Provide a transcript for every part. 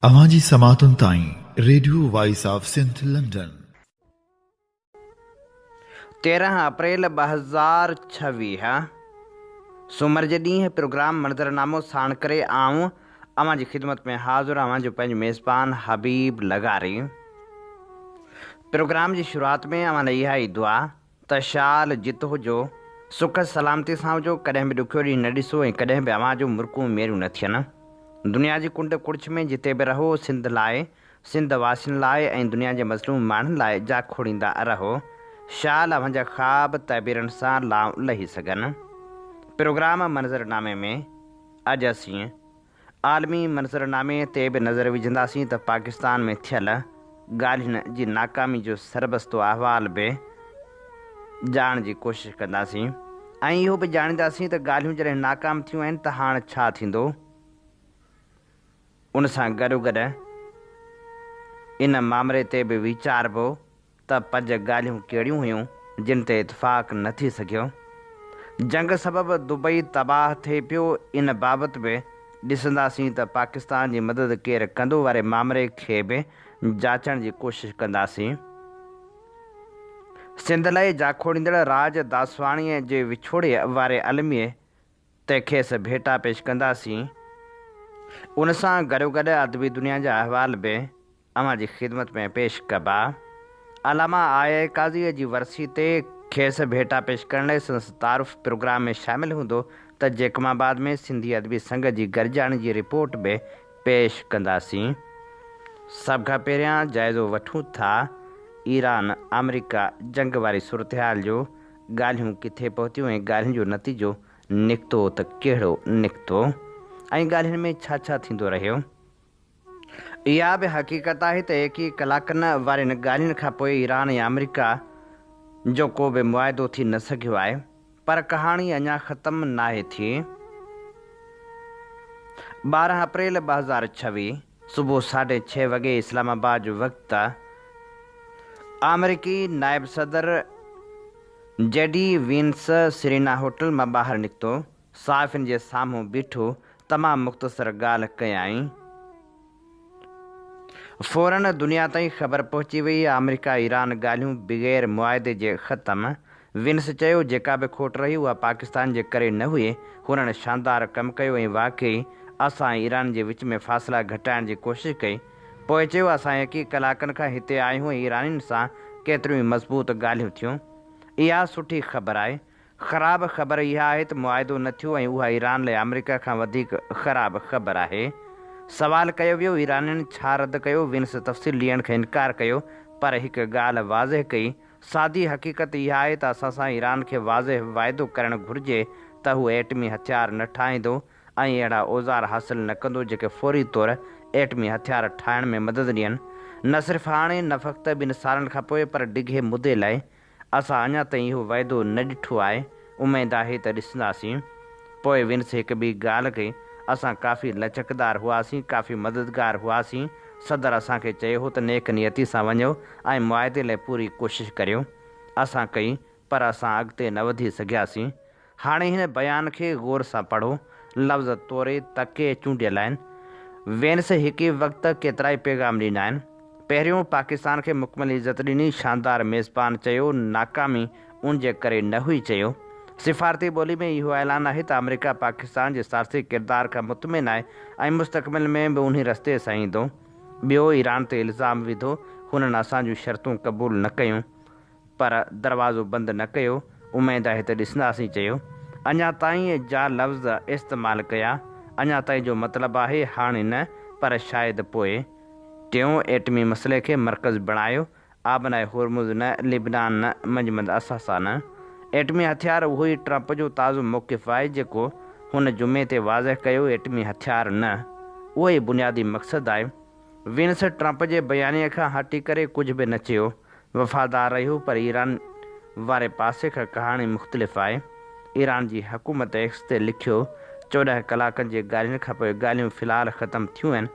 اوهان جي سماعتن تائين radio voice of Sindh London. تيرهن اپريل ٻه هزار ڇويهه سومر جي ڏينهن پروگرام منظرنامو ساڻ ڪري آئون اوهان جي خدمت ۾ حاضر اوهان جو پنهنجو ميزبان حبيب لغاري پروگرام جي شروعات ۾ اوهان لاء اها ئي دعا ته شال جت هجو، سک سلامتي سان هجو، ڪڏهن به ڏکيو ڏينهن نه ڏسو ۽ ڪڏهن به اوهان جون مرڪون ميريون نه ٿين. دنيا جي ڪنڊ ڪڙڇ ۾ جتي به رهو، سنڌ لاء، سنڌ واسين لاء ۽ دنيا جي مظلوم ماڻهن لاء جا کوڙيندا رهو، شال اوهان جا خواب تعبيرن سان لانء لهي سگهن. پروگرام منظرنامي ۾ اڄ اسين عالمي منظرنامي تي به نظر وجهنداسين ته پاڪستان ۾ ٿيل ڳالهين جي ناڪامي جو سربستو احوال به ڄاڻڻ جي ڪوشش ڪنداسين ۽ اهو به ڄاڻينداسين ته ڳالهيون جڏهن ناڪام ٿيون آهن ته هاڻ ڇا ٿيندو؟ ان سان گڏوگڏ ان مامري تي به ويچاربو ته پنج ڳالهيون ڪهڙيون هيون جن تي اتفاق نه ٿي سگهيو؟ جنگ سبب دبئي تباهه ٿئي پيو ان بابت به ڏسنداسين ته پاڪستان جي مدد ڪير ڪندو واري مامري کي به جاچڻ جي ڪوشش ڪنداسين. سنڌ لاء جاکوڙيندڙ راڄ داسواڻيء جي وڇوڙي واري الميي تي کيس ڀيٽا پيش ڪنداسين. ان سان گڏوگڏ ادبي دنيا جا احوال به اوهان جي خدمت ۾ پيش ڪبا. علامه آء اي قاضيء جي ورسي تي کيس ڀيٽا پيش ڪرڻ لاء سندس تعارف پروگرام ۾ شامل هوندو ته جيڪب آباد ۾ سنڌي ادبي سنگت جي گڏجاڻي جي رپورٽ به پيش ڪنداسين. سڀ کان پهريان جائزو وٺون ٿا ايران آمريڪا جنگ واري صورتحال جو ڳالهيون ڪٿي پهتيون ۽ ڳالهين جو نتيجو نڪتو ته ڪهڙو نڪتو ۽ ڳالهين ۾ ڇا ڇا ٿيندو رهيو؟ اها به حقيقت آهي ته ايڪيهه ڪلاڪن وارين ڳالهين کان پوء ايران ۽ آمريڪا جو ڪو به معاهدو ٿي نه سگهيو آهي. پر ڪهاڻي اڃا ختم ناهي ٿي. ٻارهن اپريل ٻه هزار ڇويهه. صبح ساڍي ڇهه وڳي اسلام آباد جو وقت ته آمريڪي نائب صدر J D Vance Serena hotel مان ٻاهر نڪتو، صحافين جي سامهون بيٺو تمام مختصر ڳالهه ڪيائين. فورن دنيا تائين خبر پهچي وئي آمريڪا ايران ڳالهيون بغير معاهدي جي ختم وينس چيو جيڪا به کوٽ رهي اها پاڪستان جي ڪري نه هئي، هنن شاندار ڪم ڪيو ۽ واقعي اسان ۽ ايران جي وچ ۾ فاصلا گهٽائڻ جي ڪوشش ڪئي. پوء چيو اسان يڪي ڪلاڪن کان هتي آهيون ۽ ايرانين سان ڪيتريون ئي مضبوط ڳالهيون ٿيون. اها سٺي خبر آهي. خراب خبر اها آهي ته معاهدو نه ٿيو ۽ اها ايران لاء آمريڪا کان وڌيڪ خراب خبر آهي. سوال ڪيو ويو ايرانين ڇا رد ڪيو، وينس تفصيل ڏيڻ کان انڪار ڪيو پر هڪ ڳالهه واضح ڪئي سادي حقيقت اها آهي ته اسان سان ايران کي واضح واعدو ڪرڻ گهرجي ته هو ايٽمي هٿيار نه ٺاهيندو ۽ اهڙا اوزار حاصل نه ڪندو جيڪي فوري طور ايٽمي هٿيار ٺاهڻ ۾ مدد ڏين نه صرف هاڻي نه فقط ٻن سالن کانپوء پر ڊگهي مدي لاء. اسان اڃا تائين اهو واعدو نه ڏٺو آهي. اميد آهي ته ڏسنداسين. پوء ونس هڪ ٻي ڳالهه ڪئي، اسان ڪافي لچڪدار هئاسين، ڪافي مددگار هئاسين. صدر اسان کي چيو هو ته نيڪ نيتي سان وڃو ۽ معاهدي لاء پوري ڪوشش ڪريو. اسان ڪئي، پر اسان اڳتي نه وڌي سگهياسين. هاڻي هن بيان کي غور سان پڙهو. لفظ توري تڪي چونڊيل آهن. وينس هڪ ئي وقت ڪيترائي پيغام ڏنا آهن. پهريون پاڪستان کي مڪمل عزت ڏني، شاندار ميزبان چيو، ناڪامي ان جي ڪري نه هئي چيو، سفارتي ٻولي ۾ اهو اعلان آهي ته آمريڪا پاڪستان جي ثالثي ڪردار کان مطمئن آهي ۽ مستقبل ۾ به انهي رستي سان ايندو. ٻيو ايران تي الزام وڌو، هنن اسان جون شرطون قبول نه ڪيون. پر دروازو بند نه ڪيو، اميد آهي ته ڏسنداسين چيو، اڃا تائين جا لفظ استعمال ڪيا، اڃا تائين جو مطلب آهي هاڻي نه پر شايد پوء. ٽيون، ايٽمي مسئلي کي مرڪز بڻايو، آبنائي هورمز نه، لبنان نه، منجمند اثاثا نه. ايٽمي هٿيار اهو ئي ٽرمپ جو تازو موقف آهي جيڪو هن جمعي تي واضح ڪيو، ايٽمي هٿيار نه، اهو ئي بنيادي مقصد آهي. وينس ٽرمپ جي بيانيي کان هٽي ڪري ڪجهه به نه چيو، وفادار رهيو پر ايران واري پاسي کان ڪهاڻي مختلف آهي، ايران جي حڪومت ايڪس تي لکيو چوڏهن ڪلاڪن جي ڳالهين کان پوء ڳالهيون في الحال ختم ٿيون آهن،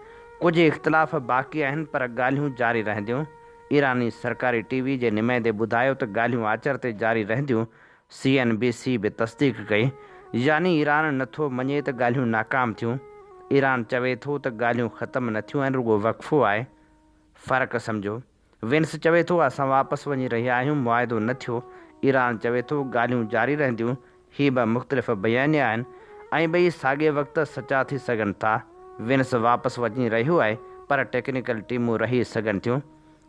ڪجهه اختلاف باقي آهن پر ڳالهيون جاري رهنديون، ايراني سرڪاري ٽي وي جي نمائندي ٻڌايو ته ڳالهيون آچر تي جاري رهنديون سي اين بي سي به تصديق ڪئي يعني ايران نه ٿو مڃي ته ڳالهيون ناڪام ٿيون، ايران چوي ٿو ته ڳالهيون ختم نه ٿيون آهن رڳو وقفو آهي. فرق سمجهو. وينس چوي ٿو اسان واپس وڃي رهيا آهيون معاهدو نه ٿيو، ايران چوي ٿو ڳالهيون جاري رهنديون، هي ٻه مختلف بيانيا آهن ۽ ٻئي ساڳئي وقت سچا ٿي سگهن ٿا، وينس واپس وڃي رهيو آهي پر ٽيڪنيڪل ٽيمون رهي سگهن ٿيون،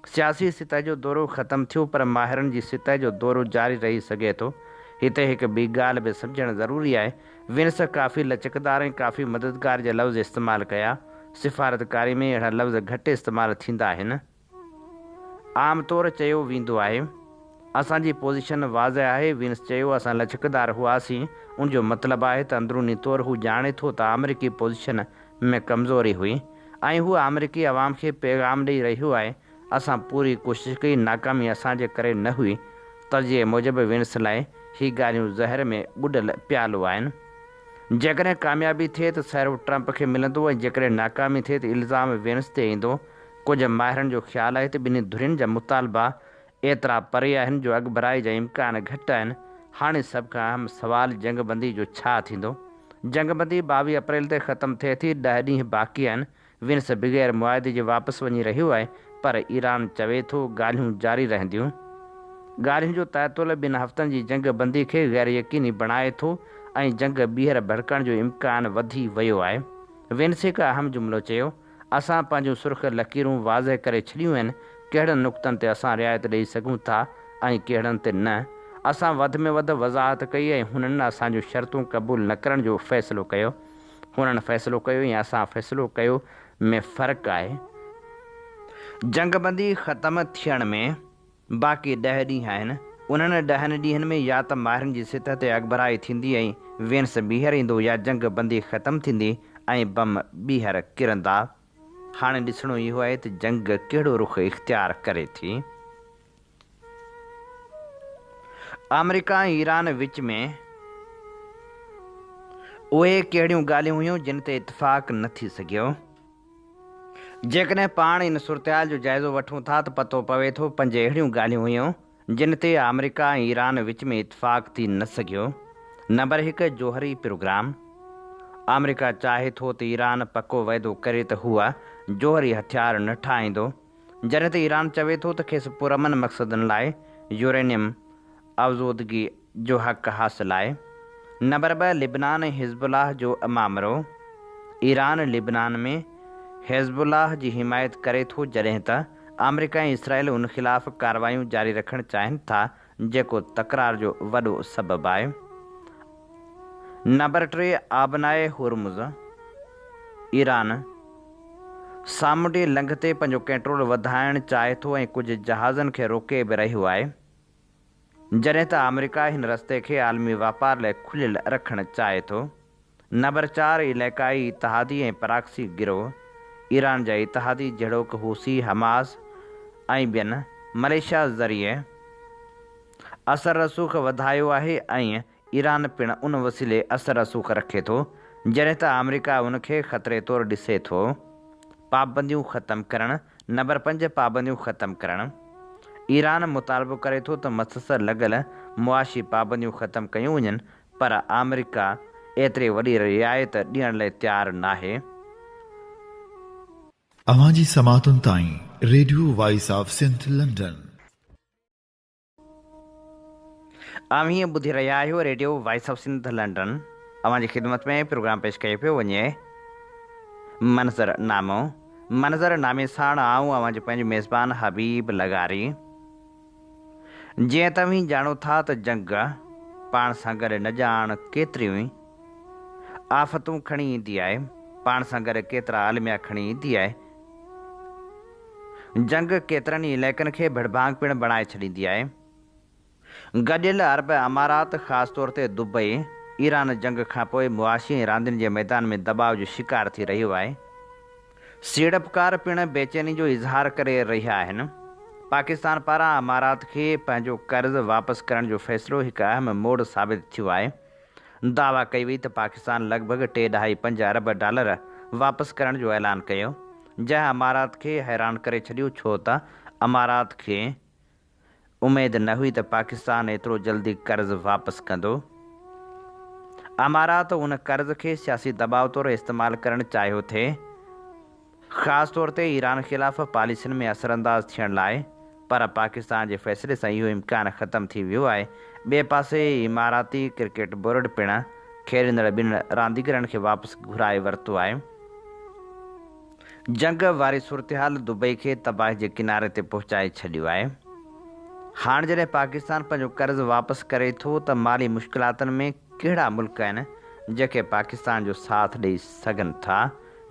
سياسي سطح جو دورو ختم ٿيو پر ماهرن جي سطح جو دورو جاري رهي سگهي ٿو. هتي هڪ ٻي ڳالهه به سمجهڻ ضروري آهي. وينس ڪافي لچڪدار ۽ ڪافي مددگار جا لفظ استعمال ڪيا. سفارتڪاري ۾ اهڙا لفظ گهٽ استعمال ٿيندا آهن. عام طور چيو ويندو آهي. اسان جي پوزيشن واضح آهي، وينس چيو اسان لچڪدار هئاسين، ان جو مطلب آهي ته اندروني طور هو ڄاڻي ٿو ته آمريڪي پوزيشن ۾ ڪمزوري هئي ۽ هوء آمريڪي عوام کي پيغام ڏئي رهي هئي اسان پوري ڪوشش ڪئي ناڪامي اسان جي ڪري نه هئي تجزيي موجب وينس لاء هي ڳالهيون زهر ۾ ٻڏل پيالو آهن جيڪڏهن ڪاميابي ٿئي ته سهرو ٽرمپ کي ملندو ۽ جيڪڏهن ناڪامي ٿئي ته الزام وينس تي ايندو ڪجهه ماهرن جو خيال آهي ته ٻنهي ڌرين جا مطالبا ايترا پري آهن جو اڳڀرائي جا امڪان گهٽ آهن. هاڻي سڀ کان اهم سوال جنگ بندي جو ڇا ٿيندو؟ جنگ بندي ٻاويهه اپريل تي ختم ٿئي ٿي، ڏهه ڏينهن باقي آهن، وينس بغير معاهدي جي واپس وڃي رهيو آهي پر ايران چوي ٿو ڳالهيون جاري رهنديون. ڳالهين جو تعطل ٻن هفتن جي جنگ بندي کي غير يقيني بڻائي ٿو ۽ جنگ ٻيهر ڀڙڪڻ جو امڪان وڌي ويو آهي. وينس هڪ اهم جملو چيو. اسان پنهنجون سرخ لڪيرون واضح ڪري ڇڏيون آهن، ڪهڙن نقطن تي اسان رعايت ڏئي سگهون ٿا ۽ ڪهڙن تي نه. اسان وڌ ۾ وڌ وضاحت ڪئي ۽ هنن اسان جون شرطون قبول نه ڪرڻ جو فيصلو ڪيو. هنن فيصلو ڪيو يا اسان فيصلو ڪيو ۾ فرق آهي. جنگبندي ختم ٿيڻ ۾. باقي ڏهه ڏينهن آهن، انهن ڏهن ڏينهن ۾ يا ته ماهرن جي سطح تي اڳڀرائي ٿيندي ۽ وينس ٻيهر ايندو يا جنگ بندي ختم ٿيندي ۽ بم ٻيهر ڪرندا. هاڻي ڏسڻو اهو آهي ته جنگ ڪهڙو رخ اختيار ڪري ٿي. آمريڪا ۽ ايران وچ ۾ اهي ڪهڙيون ڳالهيون هيون جن تي اتفاق نه ٿي سگهيو. جيڪڏهن پاڻ ان صورتحال جو جائزو وٺون ٿا ته پتو پوي ٿو پنج اهڙيون ڳالهيون هيون جن تي آمريڪا ۽ ايران وچ ۾ اتفاق ٿي نه سگهيو، نمبر هڪ جوهري پروگرام، آمريڪا چاهي ٿو ته ايران پڪو وعدو ڪري ته هوء جوهري هٿيار نه ٺاهيندو، جڏهن ته ايران چوي ٿو ته کيس پرامن مقصدن لاء يورينيم آزودگي جو حق حاصل آهي، نمبر ٻه لبنان ۽ حزب الله جو امامرو، ايران لبنان ۾ حزب الله جي حمايت ڪري ٿو جڏهن ته آمريڪا ۽ اسرائيل ان خلاف ڪارروايون جاري رکڻ چاهين ٿا جيڪو تڪرار جو وڏو سبب آهي، نمبر ٽي آبناء هرمز، ايران سامونڊي لنگهه تي پنهنجو ڪنٽرول وڌائڻ چاهي ٿو ۽ ڪجهه جهازن کي روڪي به رهيو آهي. جڏهن ته آمريڪا هن رستي کي عالمي واپار لاء کليل رکڻ چاهي ٿو. نمبر چار علائقائي اتحادي ۽ پراڪسي گروهه، ايران جا اتحادي جهڙوڪ حوثي، حماس ۽ ٻين، مليشيا ذريعي اثر رسوخ وڌايو آهي ۽ ايران پڻ ان وسيلي اثر رسوخ رکي ٿو، جڏهن ته آمريڪا ان کي خطري طور ڏسي ٿو. پابنديون ختم ڪرڻ، نمبر پنج پابنديون ختم ڪرڻ، ايران مطالبو ڪري ٿو ته مسسر لڳل معاشي پابنديون ختم ڪيون وڃن پر آمريڪا ايتري وڏي رعايت ڏيڻ لئي تيار ناهي. اوهان جي سماعتن تائين، radio voice of Sindh London. اوهين ٻڌي رهيا آهيو radio voice of Sindh London اوهان جي خدمت ۾ پروگرام پيش ڪيو پيو وڃي منظر نامو منظر نامي ساڻ آئون اوهان جو پنهنجو ميزبان حبيب لغاري جيئن توهين ڄاڻو ٿا ته جنگ پاڻ سان گڏ نه ڄاڻ ڪيتريون ئي آفتون کڻي ايندي آهي پاڻ سان گڏ ڪيترا الميا کڻي ايندي آهي جنگ ڪيترن ئي علائقن کي ڀڙڀانگ پڻ بڻائي ڇڏيندي آهي. گڏيل عرب امارات خاص طور تي دبئي، ايران جنگ کانپوء معاشي ۽ راندين جي ميدان ۾ دٻاء جو شڪار ٿي رهيو آهي. سيڙپڪار پڻ بيچيني جو اظهار ڪري رهيا آهن. پاڪستان پاران امارات کي پنهنجو قرض واپس ڪرڻ جو فيصلو هڪ اهم موڙ ثابت ٿيو آهي. دعويٰ ڪئي وئي ته پاڪستان لڳ ڀڳ ٽي ڏهائي پنج ارب ڊالر واپس ڪرڻ جو اعلان ڪيو جنهن امارات کي حيران ڪري ڇڏيو ڇو ته امارات کي اميد نه هئي ته پاڪستان ايترو جلدي قرض واپس ڪندو. امارات ان قرض کي سياسي دٻاء طور استعمال ڪرڻ چاهيو ٿي. خاص طور تي ايران خلاف پاليسين ۾ اثرانداز ٿيڻ لاء، پر پاڪستان جي فيصلي سان اهو امڪان ختم ٿي ويو آهي، ٻئي پاسي اماراتي ڪرڪيٽ بورڊ پڻ کيڏندڙ ٻن رانديگرن کي واپس گهرائي ورتو آهي، جنگ واري صورتحال دبئي کي تباهي جي ڪناري تي پهچائي ڇڏيو آهي، هاڻ جڏهن پاڪستان پنهنجو قرض واپس ڪري ٿو ته مالي مشڪلاتن ۾ ڪهڙا ملڪ آهن جيڪي پاڪستان جو ساٿ ڏئي سگهن ٿا،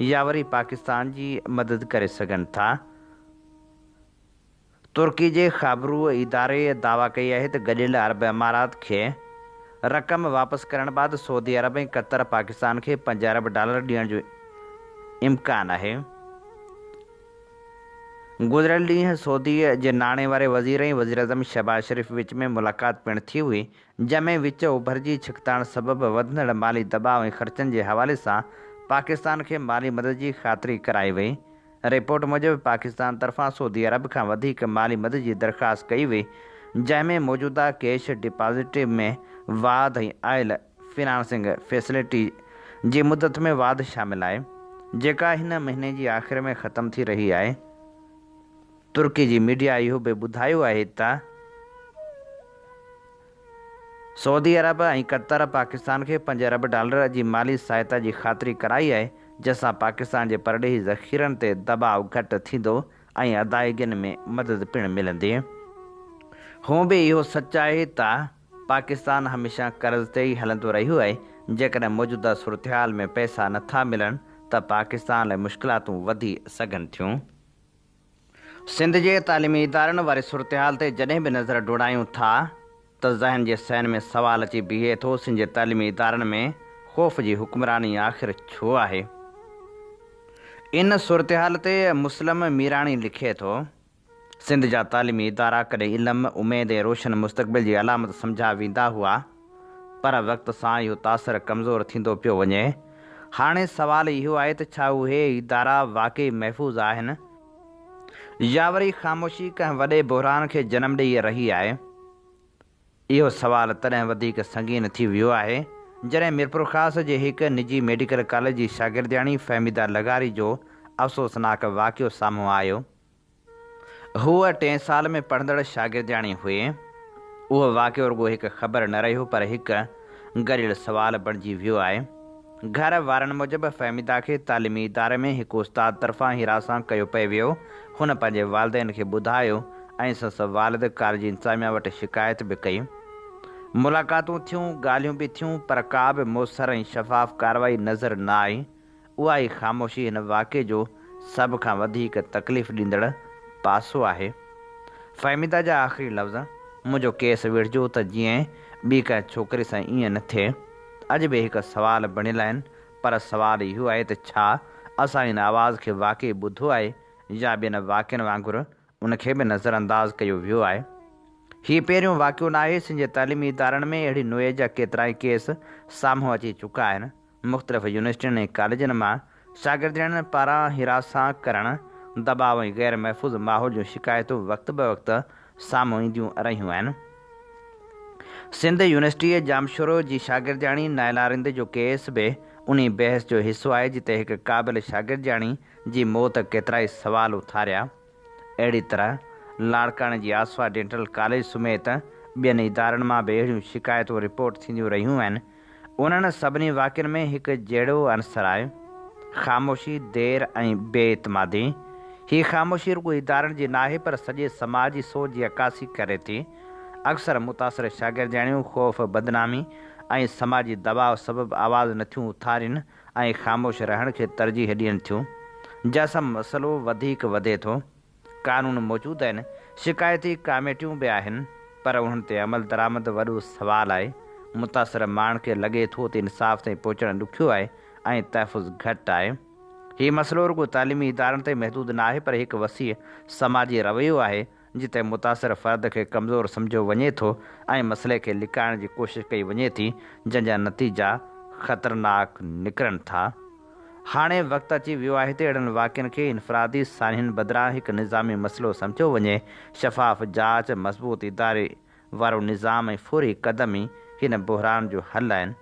يا وري پاڪستان جي مدد ڪري سگهن ٿا. ترڪي جي خابرو اداري دعويٰ ڪئي آهي ته گڏيل عرب امارات کي رقم واپس ڪرڻ بعد سعودي عرب ۽ قطر پاڪستان کي پنج ارب ڊالر ڏيڻ جو امڪان آهي. گذريل ڏينهن سعودي جي ناڻي واري وزير ۽ وزيراعظم شهباز شريف وچ ۾ ملاقات پڻ ٿي هئي، جنهن ۾ وچ اوڀر جي ڇڪتاڻ سبب وڌندڙ مالي دٻاء ۽ خرچن جي حوالي سان پاڪستان کي مالي مدد جي خاطري ڪرائي وئي. رپورٽ موجب پاڪستان طرفان سعودي عرب کان وڌيڪ مالي مدد جي درخواست ڪئي وئي، جنهن ۾ موجوده ڪيش ڊپازٽ ۾ واڌ ۽ آئل فنانسنگ فيسلٽي جي مدت ۾ واڌ شامل آهي، جيڪا هن مهيني جي آخر ۾ ختم ٿي رهي آهي. ترڪي جي ميڊيا اهو به ٻڌايو آهي ته سعودي عرب ۽ قطر پاڪستان کي پنج ارب ڊالر جي مالي سهائتا جي خاطري ڪرائي آهي، جنهن سان پاڪستان جي پرڏيهي ذخيرن تي دٻاء گهٽ ٿيندو ۽ ادائيگين ۾ مدد پڻ ملندي. هونء به اهو سچ آهي ته پاڪستان هميشه قرض تي ئي هلندو رهيو آهي، جيڪڏهن موجوده صورتحال ۾ پئسا نٿا ملن ته پاڪستان لاء مشڪلاتون وڌي سگهن ٿيون. سنڌ جي تعليمي ادارن واري صورتحال تي جڏهن به نظر ڊوڙايون ٿا ته ذهن جي صحن ۾ سوال اچي بيهي ٿو سن جي تعليمي ادارن ۾ خوف جي حڪمراني آخر ڇو آهي؟ ان صورتحال تي مسلم ميراڻي لکي ٿو، سنڌ جا تعليمي ادارا ڪڏهن علم، اميد ۽ روشن مستقبل جي علامت سمجهيا ويندا هئا، پر وقت سان اهو تاثر ڪمزور ٿيندو پيو وڃي. هاڻي سوال اهو آهي ته ڇا اهي ادارا واقعي محفوظ آهن؟ يا وري خاموشي ڪنهن وڏي بحران کي جنم ڏيئي رهي آهي؟ اهو سوال تڏهن وڌيڪ سنگين ٿي ويو آهي، جڏهن ميرپورخاص جي هڪ نجي ميڊيڪل ڪاليج جي شاگردياڻي فهميده لغاري جو افسوسناڪ واقعو سامهون آيو. هوء ٽئين سال ۾ پڙهندڙ شاگردياڻي هئي. اهو واقعو رڳو هڪ خبر نه رهيو پر هڪ گريل سوال بڻجي ويو آهي. گهر وارن موجب فهميده کي تعليمي اداري ۾ هڪ استاد طرفان حراسان ڪيو پئي ويو. هن پنهنجي والدين کي ٻڌايو ۽ سندس والد ڪاليج انتظاميا وٽ شڪايت به ڪئي. ملاقاتون ٿيون، ڳالهيون به ٿيون پر ڪا به موثر ۽ شفاف ڪارروائي نظر نه آئي. اها ئي خاموشي هن واقعي جو سڀ کان وڌيڪ تڪليف ڏيندڙ پاسو آهي. فهميده جا آخري لفظ، منهنجو ڪيس ويڙهجو ته جيئن ٻي ڪنهن ڇوڪري سان ائين نه ٿئي. اڄ به هڪ سوال بڻيل آهن، پر سوال اهو آهي ته ڇا اسان هن آواز کي واقعي ٻڌو آهي يا ٻين واقعن وانگر ان کي به نظر انداز ڪيو ويو آهي. هي پهريون واقعو ناهي، سنڌ جي تعليمي ادارن ۾ اهڙي نوعيت جا ڪيترائي ڪيس سامهون اچي چڪا آهن، مختلف يونيورسٽين ۽ ڪاليجن مان شاگردياڻين پاران حراساء ڪرڻ، دٻاء ۽ غير محفوظ ماحول جون شڪايتون وقت بوقت سامهون اينديون رهيون آهن. سنڌ يونيورسٽيء ڄامشورو جي شاگردياڻي نائلا رند جو ڪيس به انهي بحث جو حصو آهي، جتي هڪ قابل شاگردياڻي جي موت ڪيترائي سوال اٿاريا. اهڙي طرح لاڙڪاڻي جي آسوا ڊينٽل ڪاليج سميت ٻين ادارن مان به اهڙيون شڪايتون رپورٽ ٿينديون رهيون آهن. انهن سڀني واقعن ۾ هڪ جهڙو عنصر آهي، خاموشي، دير ۽ بي اعتمادي. هي خاموشي رڳو ادارن جي ناهي پر سڄي سماج جي سوچ جي عڪاسي ڪري ٿي. اڪثر متاثر شاگردياڻيون خوف، بدنامي ۽ سماجي دٻاء سبب آواز نٿيون اٿارين ۽ خاموش رهڻ کي ترجيح ڏين ٿيون، جنهن سان مسئلو وڌيڪ وڌي ٿو. قانون موجود آهن، شڪايتي ڪاميٽيون به آهن، پر انهن تي عملدرآمد وڏو سوال آهي. متاثر ماڻهن کي لڳي ٿو ته انصاف تائين پهچڻ ڏکيو آهي ۽ تحفظ گهٽ آهي. هي مسئلو رڳو تعليمي ادارن تائين محدود ناهي، پر هڪ وسيع سماجي رويو آهي، جتي متاثر فرد کي ڪمزور سمجهيو وڃي ٿو ۽ مسئلي کي لڪائڻ جي ڪوشش ڪئي وڃي ٿي جنهن جا نتيجا خطرناڪ نڪرن ٿا. هاڻي وقت اچي ويو آهي ته اهڙن واقعن کي انفرادي سانحن بدران هڪ نظامي مسئلو سمجهيو وڃي، شفاف جاچ، مضبوط اداري وارو نظام ۽ فوري قدم ئي هن بحران جو حل آهن.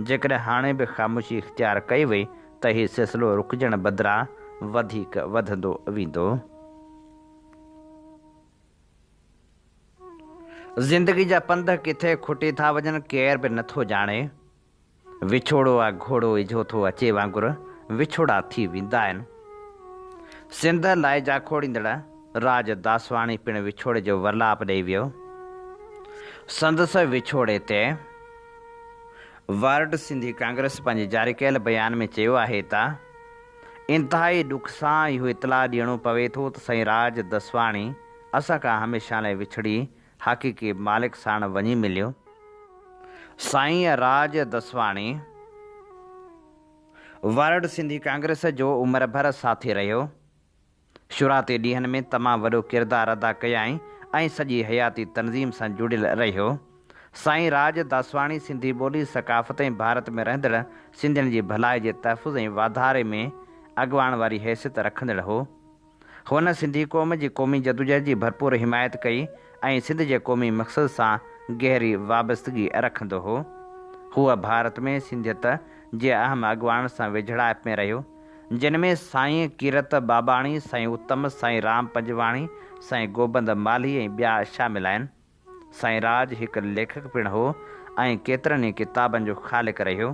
جيڪڏهن هاڻي به خاموشي اختيار ڪئي وئي ته هي سلسلو رڪجڻ بدران وڌيڪ وڌندو ويندو. زندگي جا پنڌ ڪٿي کٽي ٿا وڃن ڪير به نٿو ڄاڻي. وڇوڙو آ گهوڙو اجهو ٿو اچي وانگر وڇوڙا ٿي ويندا آهن. سنڌ لاء جاکوڙيندڙ راڄ داسواڻي پڻ وڇوڙي جو ورلاپ ڏئي ويو. سندس وڇوڙي تي ورلڊ سنڌي ڪانگريس پنهنجي جاري ڪيل بيان ۾ چيو آهي ته. انتهائي ڏک سان اهو اطلاع ڏيڻو پوي ٿو ته سائين راڄ دسواڻي اسان کان هميشه لاء وڇڙي حقيقي مالڪ ساڻ وڃي مليو. سائين راڄ دسواڻي ورلڊ سنڌي ڪانگريس جو عمر ڀر ساٿي رهيو. شروعاتي ڏينهن ۾ تمام وڏو ڪردار ادا ڪيائين ۽ سڄي حياتي تنظيم سان جڙيل رهيو. سائين راڄ داسواڻي سنڌي ٻولي، ثقافت ۽ ڀارت ۾ رهندڙ سنڌين جي ڀلائي جي تحفظ ۽ واڌاري ۾ اڳواڻ واري حيثيت رکندڙ هو. هن سنڌي قوم جي قومي جدوجهد جي ڀرپور حمايت ڪئي ۽ سنڌ جي قومي مقصد سان گهري وابستگي رکندو هو. هو ڀارت ۾ سنڌيت جي اهم اڳواڻن سان ويجهڙائپ ۾ رهيو. جن ۾ سائين ڪيرت باباڻي، سائين اتم، سائين رام پنجواڻي، سائين گوبند مالهي ۽ ٻيا شامل آهن. سائين راڄ هڪ ليکڪ پڻ هو ۽ ڪيترن ئي ڪتابن جو خالق رهيو.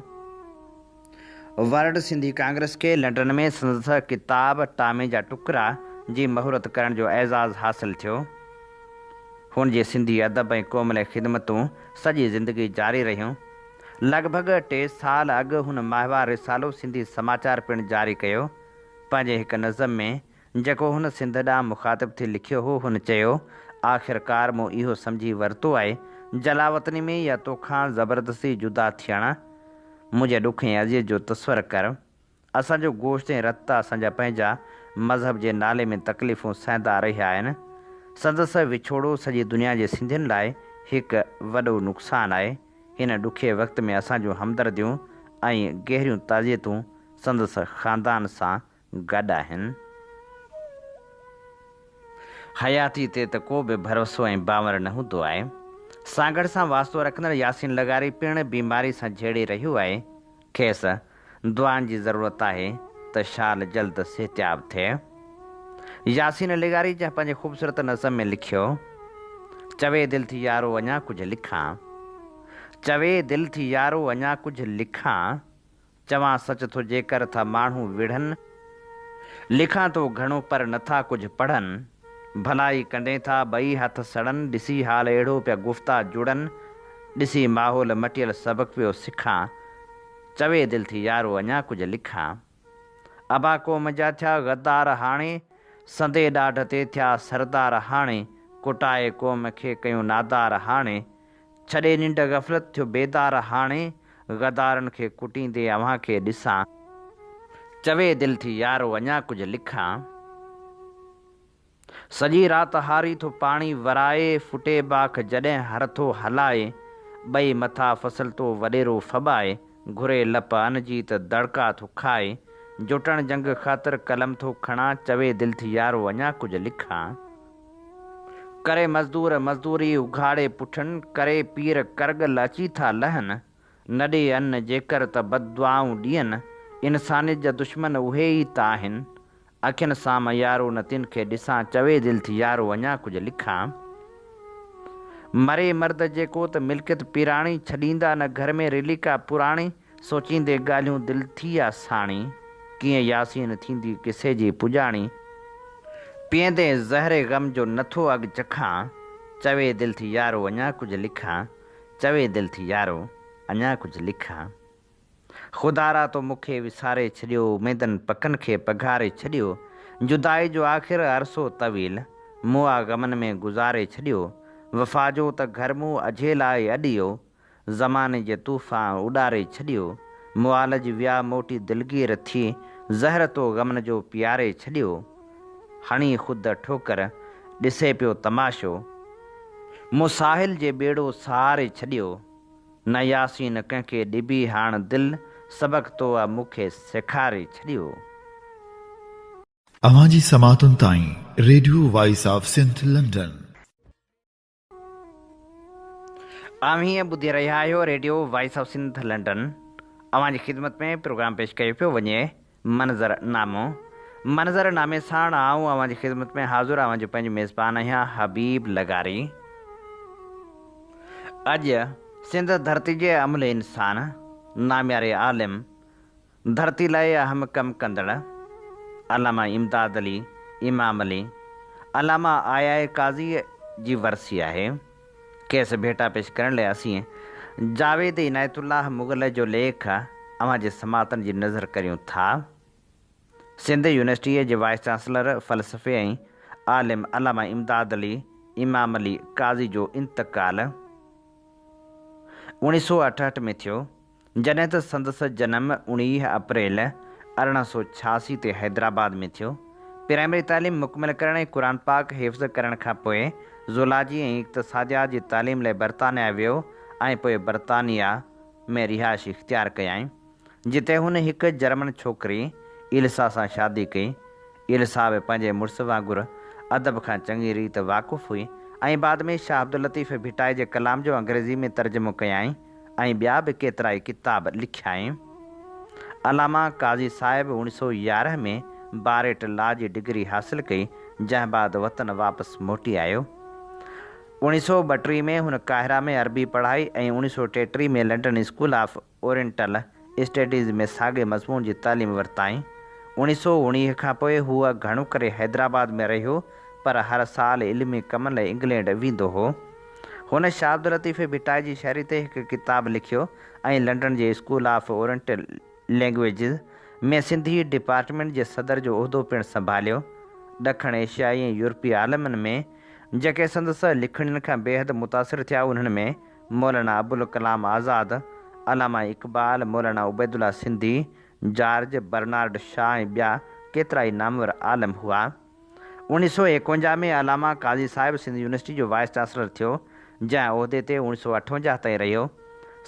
ورلڊ سنڌي ڪانگريس کي لنڊن ۾ سندس ڪتاب ٽامي جا ٽڪرا جي مهورت ڪرڻ جو اعزاز حاصل ٿيو. هن جي سنڌي ادب ۽ قوم لاء خدمتون سڄي زندگي جاري رهيون. لڳ ڀڳ ٽي سال اڳ هن ماهوار رسالو سنڌي سماچار پڻ جاري ڪيو. پنهنجي هڪ نظم ۾، جيڪو هن سنڌ ڏانهن مخاطب ٿي لکيو هو، هن چيو، آخرڪار مون اهو سمجهي ورتو آهي، جلاوطني ۾ يا توکان زبردستي جدا ٿيڻ، منهنجي ڏک ۽ اذيت جو تصور ڪر، اسان جو گوشت ۽ رت اسان جا پنهنجا مذهب جي نالي ۾ تڪليفون سهندا رهيا آهن. سندس وڇوڙو سڄي دنيا جي سنڌين لاء هڪ وڏو نقصان آهي. هن ڏکئي وقت ۾ اسان جون همدرديون ۽ گهريون تعزيتون سندس خاندان سان گڏ آهن. حياتي تي ته ڪو به ڀروسو ۽ باور نه هوندو آهي. سانگهڙ سان واسطو رکندڙ ياسين لغاري پڻ بيماري سان جهيڙي رهيو آهي. کيس دعائن جي ضرورت آهي ته شال جلد صحتياب ٿئي. ياسين لغاري جنهن پنهنجي خوبصورت نظم ۾ لکيو، چوي دل ٿي يارو اڃا ڪجهه لکان، چوي دل ٿي يارو اڃا ڪجهه لکان، چوان سچ ٿو جيڪر ٿا ماڻهو وڙهن، لکان ٿو گهڻو پر نٿا ڪجهه پڙهن ڀلائي ڪنڊين ٿا ٻئي هٿ سڙن ڏسي حال اهڙو پيا گفتا جڙن ڏسي ماحول مٽيل سبق پيو سکان چوي دل ٿي يارو اڃا ڪجهه لکان ابا قوم جا ٿيا غدار هاڻي سندي ڏاڍ تي ٿيا سردار هاڻي ڪٽائي قوم کي ڪيون نادار هاڻي ڇڏي ننڊ غفلت ٿيو بيدار هاڻي غدارن کي ڪٽيندي اوهان کي ڏسان چوي دل ٿي يارو اڃا ڪجهه لکان سڄي رات هاري ٿو پاڻي ورائي ڦٽي باک جڏهن هر ٿو هلائي ٻئي مٿا فصل تو وڏيرو ڦٻائي گهري لپ ان جي ته دڙڪا ٿو کائي جوٽڻ جنگ خاطر قلم ٿو کڻان چوي دل ٿي يارو اڃا ڪجهه لکان. ڪري مزدور مزدوري اگهاڙي پٺن، ڪري پير ڪرڳل اچي ٿا لهن، نه ڏي ان جيڪر ته بددعائون ڏين، انسانيت جا دشمن اهي ئي ته آهن، اکين سان مان يارو نه تن کي ڏسان، چوي دل ٿي يارو اڃا ڪجهه لکان، مري مرد جيڪو ته ملڪيت پيراڻي، ڇڏيندا نه گهر ۾ رليڪا پراڻي، سوچيندي ڳالهيون دل ٿي آ ساڻي. ڪيئن ياسين ٿيندي قصي جي پڄاڻي. پيئندي زهر غم جو نٿو اڳ چکان. چوي دل ٿي يارو اڃا ڪجهه لکان. چوي دل ٿي يارو اڃا ڪجهه لکان. خدارا تو مون کي وساري ڇڏيو. اميدن پڪن کي پگهاري ڇڏيو. جدائي جو آخر عرصو طويل. مون آ غمن ۾ گذاري ڇڏيو. وفا جو ته گهر مون اجهي لاء اڏيو. زماني جي طوفان اڏاري ڇڏيو، معالج ويا موٽي دلگير ٿي، زهر تو غمن جو پياري ڇڏيو، هڻي خود ٺوڪر ڏسي پيو تماشو، مون ساحل جي ٻيڙو سهاري ڇڏيو، نه ياسين ڪنهن کي ڏبي هاڻ دل، سبق تو مون کي سيکاري ڇڏيو. اوهان جي سماعتن تائين radio voice of Sindh London. اوهين ٻڌي رهيا آهيو radio voice of Sindh London اوهان جي خدمت ۾ پروگرام پيش ڪيو پيو وڃي منظر نامو منظر نامي ساڻ آئون اوهان جي خدمت ۾ حاضر اوهان جو پنهنجو ميزبان آهيان حبيب لغاري اڄ سنڌ ڌرتي جي املهه انسان نامياري عالم ڌرتي لاء اهم ڪم ڪندڙ علامه امداد علي، امام علي، علامه آيا قاضيء جي ورثي آهي. کيس ڀيٽا پيش ڪرڻ لاء اسين جاويد عنايت الله مغل جو ليک اوهان جي سماعتن جي نذر ڪريون ٿا. سنڌ يونيورسٽيء جي وائيس چانسلر فلسفي ۽ عالم علامه امداد علي، امام علي، قاضي جو انتقال اوڻيھ سؤ اٺهٺ ۾ ٿيو. جڏهن ته سندس جنم اڻويهه اپريل ارڙهن سؤ ڇياسي تي حيدرآباد ۾ ٿيو. پرائمري تعليم مڪمل ڪرڻ ۽ قرآن پاڪ حفظ ڪرڻ کان پوء زولاجي ۽ اقتصاديات جي تعليم لاء برطانيا ويو ۽ پوء برطانيا ۾ رهائش اختيار ڪيائين، جتي هن هڪ جرمن ڇوڪري ايلسا سان شادي ڪئي. ايلسا به پنهنجي مڙس وانگر ادب کان چڱي ريت واقف هئي ۽ بعد ۾ شاهه عبداللطيف ڀٽائي جي ڪلام جو انگريزي ۾ ترجمو ڪيائين. ۽ ٻيا به ڪيترائي ڪتاب لکيائين. علامه قاضي صاحب اوڻي سؤ يارهن ۾ باريٽ لا جي ڊگري حاصل ڪئي، جنهن بعد وطن واپس موٽي آيو. اوڻي سؤ ٻٽيهه ۾ هن قاهره ۾ عربي پڙهائي ۽ اوڻي سؤ ٽيٽيهه ۾ London school of oriental, studies ۾ ساڳئي مضمون جي تعليم ورتائين. اوڻي سو اوڻيهه کان پوء هو گهڻو ڪري حيدرآباد ۾ رهيو پر هر سال علمي ڪمن لاء انگلينڊ ويندو هو. هن شاهه عبداللطيف ڀٽائي جي شاعري تي هڪ ڪتاب لکيو ۽ لنڊن جي school of oriental languages ۾ Sindhi department جي صدر جو عهدو پڻ سنڀاليو. ڏکڻ ايشيائي ۽ يورپي عالمن ۾، جيڪي سندس لکڻين کان بيحد متاثر ٿيا، انهن ۾ Maulana Abul Kalam Azad, Allama Iqbal, Maulana Ubaidullah Sindhi, George Bernard Shaw ۽ ٻيا ڪيترائي نامور عالم هئا. اوڻيھ سؤ ايڪونجاھ ۾ علامه قاضي صاحب سنڌ يونيورسٽي جو وائيس چانسلر ٿيو، جنهن عهدي تي اوڻيھ سؤ اٺونجاھ تائين رهيو.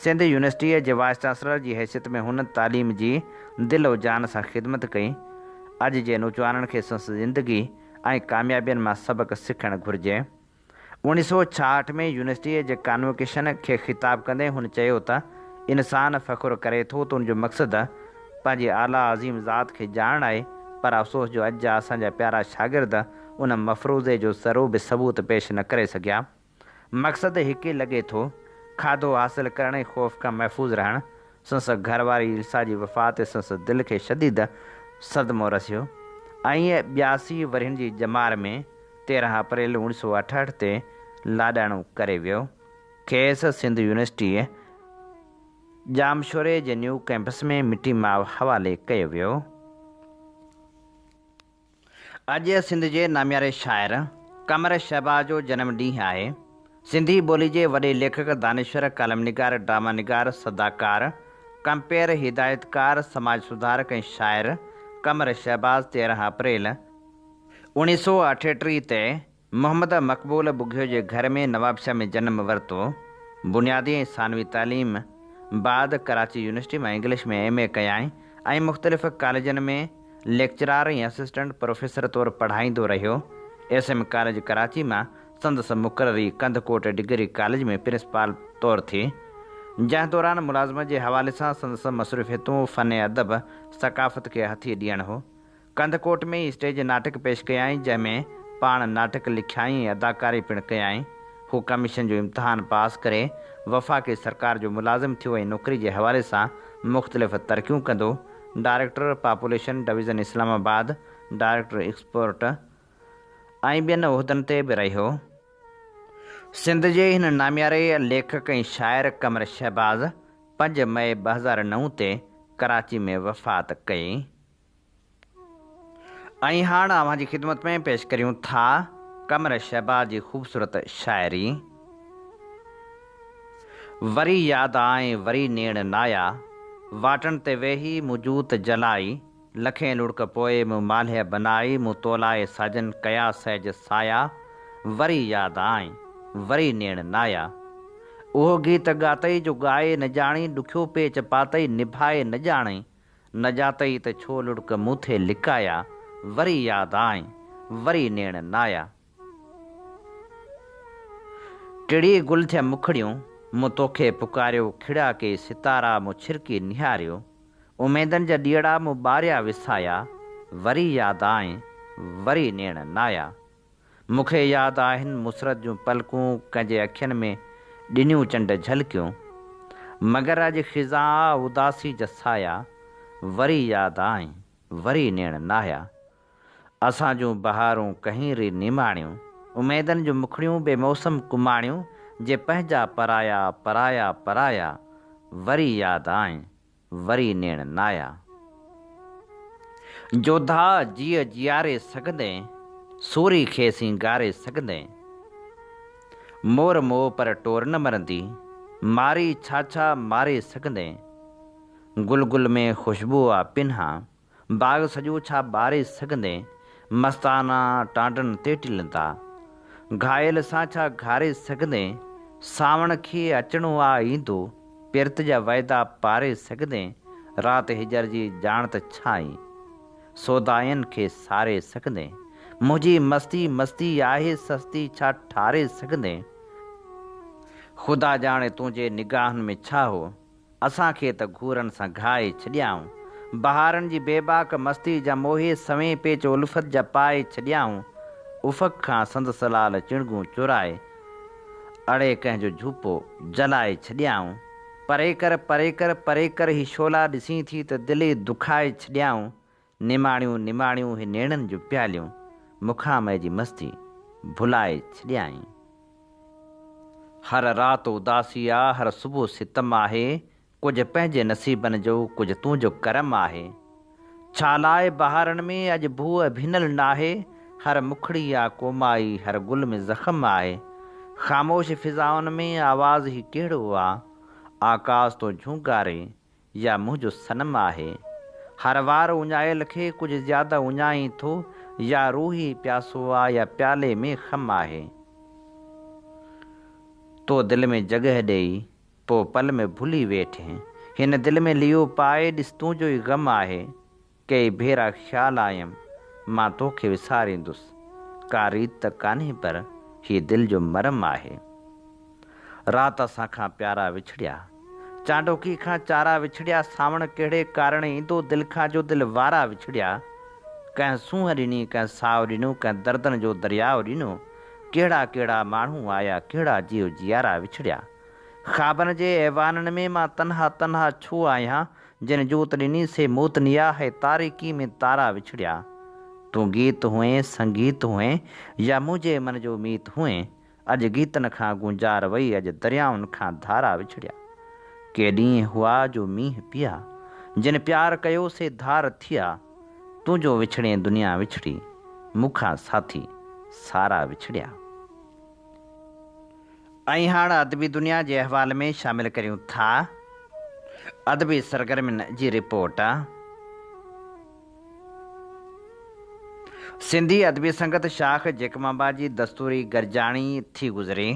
سنڌ يونيورسٽيء جي وائيس چانسلر جي حيثيت ۾ هن تعليم جي دل و جان سان خدمت ڪئي. اڄ جي نوجوانن کي سنس زندگي ۽ ڪاميابين مان سبق سکڻ گهرجي. اوڻيهه سؤ ڇاهٺ ۾ يونيورسٽيء جي ڪانووڪيشن کي خطاب ڪندي هن چيو ته، انسان فخر ڪري ٿو ته ان جو مقصد پنهنجي اعليٰ عظيم ذات کي ڄاڻڻ آهي، پر افسوس جو اڄ جا اسان جا پيارا شاگرد ان مفروضي جو ذرو به ثبوت پيش نه ڪري سگهيا. مقصد هڪ ئي لڳي ٿو، کاڌو حاصل ڪرڻ ۽ خوف کان محفوظ رهڻ. سنس گهر واري السا جي وفات تي سنس دل کي شديد صدمو رسيو ۽ ٻياسي ورهين جي ڄمار ۾، تيرهن اپريل اوڻ سؤ اٺهٺ تي لاڏاڻو ڪري ويو. کيس سنڌ يونيورسٽيء ڄامشوري جي نيو ڪئمپس ۾ مٽي ماء حوالي ڪيو ويو. اڄ سنڌ جي نامياري شاعر قمر شهباز جو جنم ڏينهن آهي. سنڌي ٻولي جي وڏي ليکڪ، دانشور، ڪالم نگار، ڊراما نگار، سداڪار، ڪمپيئر، هدايتڪار، سماج سڌارڪ ۽ شاعر قمر شهباز تيرهن اپريل، اوڻيھ سؤ اٺيٽيھ تي محمد مقبول ٻگهيو جي گهر ۾ نوابشاھ ۾ جنم ورتو. بنيادي ۽ ثانوي تعليم بعد ڪراچي يونيورسٽي مان انگلش ۾ ايم اي ڪيائين ۽ مختلف ڪاليجن ۾ ليڪچرار ۽ اسسٽنٽ پروفيسر طور پڙهائيندو رهيو. ايس ايم ڪاليج ڪراچي مان سندس مقرري ڪنڌڪوٽ ڊگري ڪاليج ۾ پرنسپال طور ٿي. جنهن دوران ملازمت جي حوالي سان سندس مصروفيتون فن ادب، ثقافت کي هٿي ڏيڻ هو. ڪنڌڪوٽ ۾ ئي اسٽيج ناٽڪ پيش ڪيائين، جنهن ۾ پاڻ ناٽڪ لکيائين ۽ اداڪاري پڻ ڪيائين. هو ڪميشن جو امتحان پاس ڪري وفاقي سرڪار جو ملازم ٿيو ۽ نوڪري جي حوالي سان مختلف ترقيون ڪندو director population division Islamabad, director export ۽ ٻين عهدن تي به رهيو. سنڌ جي هن نامياري ليکڪ ۽ شاعر قمر شهباز پنج مئي ٻه هزار نو تي ڪراچي ۾ وفات ڪئي. ۽ هاڻ اوهان جي خدمت ۾ پيش ڪريون ٿا قمر شهباز جي خوبصورت شاعري وري ياد آئي وري نيڻ نايا واٽن تي ويهي مون جوت جلائي لکين لڙڪ پوء مون مالهيء بنائي مون تولائي ساجن ڪيا سهج سايا وري ياد آئي وري نيڻ نايا اهو گيت ڳاتئي جو ڳائي نه ڄاڻي ڏکيو پيچ پاتئي نڀائي نه ڄاڻي نجاتئي ته ڇو لڙڪ مون ٿي لڪايا وري ياد آئين وري نيڻ نايا ٽڙي گل ٿيا مکڙيون مون توکي پڪاريو کڙا ڪي ستارا مون ڇرڪي نهاريو اميدن جا ڏيئڙا مون ٻاريا وسايا وري ياد آئين وري نيڻ نايا. مون کي ياد آهن مسرت جون پلڪون ڪنهن جي اکين ۾ ڏنيون چنڊ جهلڪيون مگر اڄ خزاء اداسي جا سايا وري ياد آئين وري نيڻ ناهيا اسان جون بهارون ڪهين ري نيماڻيون اميدن جون مکڙيون بي موسم ڪماڻيون جي پنهنجا پرايا پرايا پرايا وري ياد آئين وري نيڻ نايا. جوڌا جيء جياري سگهندين، سوري کي سينگاري سگهندين. مور مئو پر ٽور نه مرندي، ماري ڇا ڇا ماري سگهندين. گل گل ۾ خوشبوء آ پنهان، باغ سڄو ڇا ٻاري سگهندين. مستانا ٽانڊن تي ٽلن ٿا. گهائل سان ڇا گهاري سگهندين. سانوڻ کي اچڻو آ ايندو. پرت جا وعدا پاري سگهندين. رات هجر جي ڄاڻ ته ڇا ائين. سودائين کي ساري سگهندين. منهنجي مستي مستي آهي سستي ڇا ٺاري سگهندين. خدا ڄاڻي تنهنجي نگاهن ۾ ڇا هو. اسان کي ته گهورن سان گهائي ڇڏيائون. بهارن جي بيباڪ مستيء جا موهي سوين پيچ الفت جا پائي ڇڏيائون. افق کان سندس لال چڻگون چورائي، اڙي ڪنهن جو جهوپو جلائي ڇڏيائون. پري ڪر، پري ڪر، پري ڪر هي شعلا ڏسين ٿي ته دل ئي دکائي ڇڏيائون. نماڻيون نماڻيون هي نيڻن جون پياليون مکان مئي جي مستي ڀلائي ڇڏيائين. هر رات اداسي آ، هر صبح ستم آهي، ڪجهه پنهنجي نصيبن جو، ڪجهه تنهنجو ڪرم آهي. ڇا لاء بهارن ۾ اڄ بوء ڀينل ناهي، هر مکڙي آ ڪومائي، هر گل ۾ زخم آهي. خاموش فضائن ۾ آواز هي ڪهڙو آ، آڪاس تون جهونگاري، يا منهنجو صنم آهي. هر وار اڃايل کي ڪجهه زياده اڃائين ٿو يا روح ئي پياسو آ يا پيالي ۾ خم آهي. تو دل ۾ جڳهه ڏئي پوء پل ۾ ڀلي ويٺ هن دل ۾ ليئو پائي ڏس تنهنجو ئي غم آهي. ڪئي ڀيرا خيال آيم مان توکي وساريندس ڪا ريت ته ڪانهي پر هيء دل جو مرم آهي. رات اسان کان پيارا وڇڙيا چانڊوڪي کان چارا وڇڙيا سانوڻ ڪهڙي ڪارڻ ايندو دل کان جو دل وارا وڇڙيا ڪنهن سونهن ڏني ڪنهن ساهه ڏنو ڪنهن دردن جو درياء ڏنو ڪهڙا ڪهڙا ماڻهو آيا ڪهڙا جيو جيارا وڇڙيا خوابن جي ايوانن ۾ مان تنها تنها ڇو آهيان جنھن جوت ڏني سي موت نيا ھي تاريڪي ۾ تارا وڇڙيا تون گيت ھئين سنگيت ھئين يا منھنجي من جو ميت ھئين اڄ گيتن کان گونجار وئي اڄ دريائن کان ڌارا وڇڙيا ڪي ڏينھن ھئا جو مينھن پيا جن پيار ڪيو سي ڌار ٿيا تنھنجو وڇڙين دنيا وڇڙي مون کان ساٿي سارا وڇڙيا. ۽ هاڻ ادبي دنيا جي احوال ۾ شامل ڪريون ٿا ادبي سرگرمين جي رپورٽ. سنڌي ادبي سنگت شاخ جيڪب آباد جي دستوري گڏجاڻي ٿي گذري.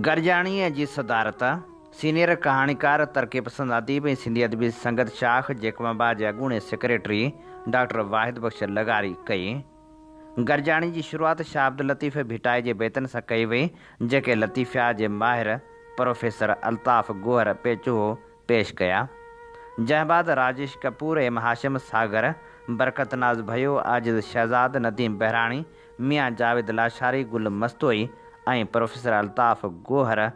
گڏجاڻيء جي صدارت سينيئر ڪهاڻيڪار، ترقي پسند اديب ۽ سنڌي ادبي سنگت شاخ جيڪب آباد جي اڳوڻي سيڪريٽري ڊاڪٽر واحد بخش لغاري ڪئي. گڏجاڻي جي شروعات شاهه عبداللطيف ڀٽائي جي بيتن سان ڪئي وئي، جيڪي لطيفيات جي ماهر پروفيسر الطاف گوهر پيچوهو پيش ڪيا. جنهن بعد راجيش ڪپور، ايم هاشم ساگر، برڪت ناز ڀيو، عاجز شهزاد، نديم بهراڻي، ميان جاويد لاشاري، گل مستوئي ۽ پروفيسر الطاف گوهر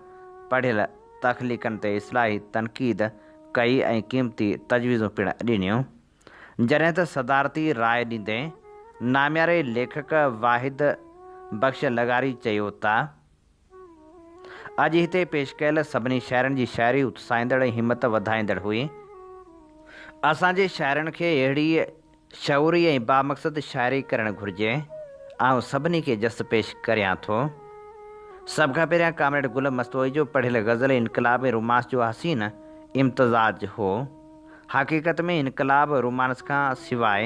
پڙهيل تخليقن تي اصلاحي تنقيد ڪئي ۽ قيمتي تجويزون پڻ ڏنيون. جڏهن ته صدارتي راء ڏيندي نامياري ليکڪ واحد بخش لغاري چيو ته اڄ هتي پيش ڪيل سڀني شاعرن جي شاعري اتساهيندڙ ۽ همت وڌائيندڙ هئي. اسان جي شاعرن کي اهڙي شعوري ۽ بامقصد شاعري ڪرڻ گهرجي. آئون سڀني کي جس پيش ڪريان ٿو. سڀ کان پهريان ڪامريڊ گل مستوئي جو پڙهيل غزل انقلاب ۽ رومانس جو حسين امتزاج هو. حقيقت ۾ انقلاب رومانس کان سواء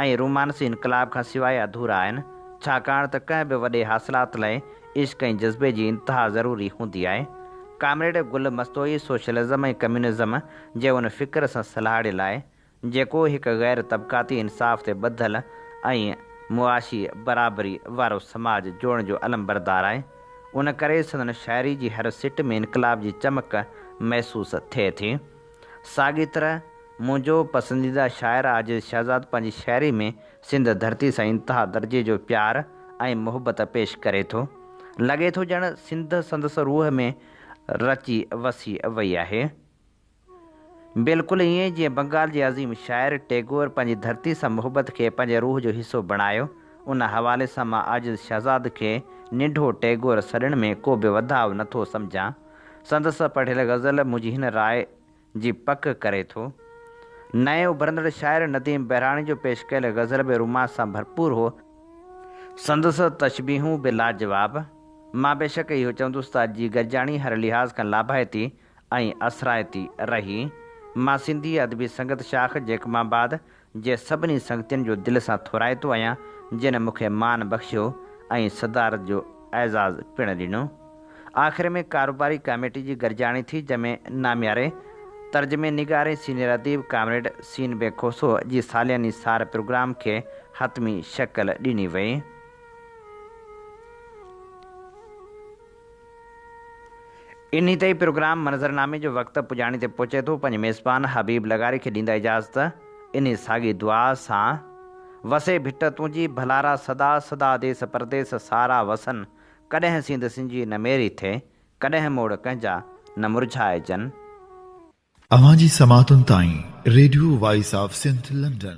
۽ رومانس انقلاب کان سواء اڌورا آهن، ڇاڪاڻ ته ڪنهن به وڏي حاصلات لاء عشق ۽ جذبي جي انتها ضروري هوندي آهي. Comrade Gul Mastoi socialism ۽ communism جي ان فڪر سان سلهاڙيل آهي، جيڪو هڪ غير طبقاتي انصاف تي ٻڌل ۽ معاشي برابري وارو سماج جوڙڻ جو علمبردار آهي. ان ڪري سندن شاعري جي هر سٽ ۾ انقلاب جي چمڪ محسوس ٿئي ٿي. ساڳي طرح منهنجو پسنديده شاعر عاجز شهزاد پنهنجي شاعري ۾ سنڌ ڌرتي سان انتها درجي جو پيار ۽ محبت پيش ڪري ٿو. لڳي ٿو ڄڻ سنڌ سندس روح ۾ رچي وسي وئي آهي. بلڪل ائين جيئن بنگال جي عظيم شاعر ٽيگور پنهنجي ڌرتي سان محبت کي پنهنجي روح جو حصو بڻايو. ان حوالي سان مان عاجز شهزاد کي ننڍو ٽيگور سڏڻ ۾ ڪو به وڌاء نٿو سمجهان. سندس پڙهيل غزل منهنجي هن راء جي پڪ ڪري ٿو. نئين اڀرندڙ شاعر نديم بهراڻي جو پيش ڪيل غزل به رومانس سان ڀرپور هو. سندس تشبيهون به لاجواب. مان بيشڪ اهو چوندس ته اڄ جي گڏجاڻي هر لحاظ کان لاڀائتي ۽ اثرائتي رهي. مان سنڌي ادبي سنگت شاخ جيڪب آباد جي سڀني سنگتين جو دل سان ٿورائتو آهيان جن مون کي مان بخشيو ۽ صدارت جو اعزاز پڻ ڏنو. آخر ۾ ڪاروباري ڪاميٽي جي گڏجاڻي ٿي جنهن ۾ نامياري ترجمي نگار ۽ سينيئر اديب ڪامريڊ سين بي کوسو جي سالياني سار پروگرام کي حتمي شڪل ڏني وئي. انهي تي پروگرام منظرنامي جو وقت پڄاڻي تي پهچي ٿو، پنهنجي ميزبان حبيب لغاري کي ڏيندا اجازت، انهي ساڳي دعا سان، وسي ڀٽ تنهنجي ڀلارا سدا سدا ديس پرديس سارا وسن، ڪڏهن سينڌ سنجي نه ميري ٿئي، ڪڏهن موڙ ڪنهنجا نه مرجهائجن. اوهان جي سماعتن تائين radio voice of Sindh London.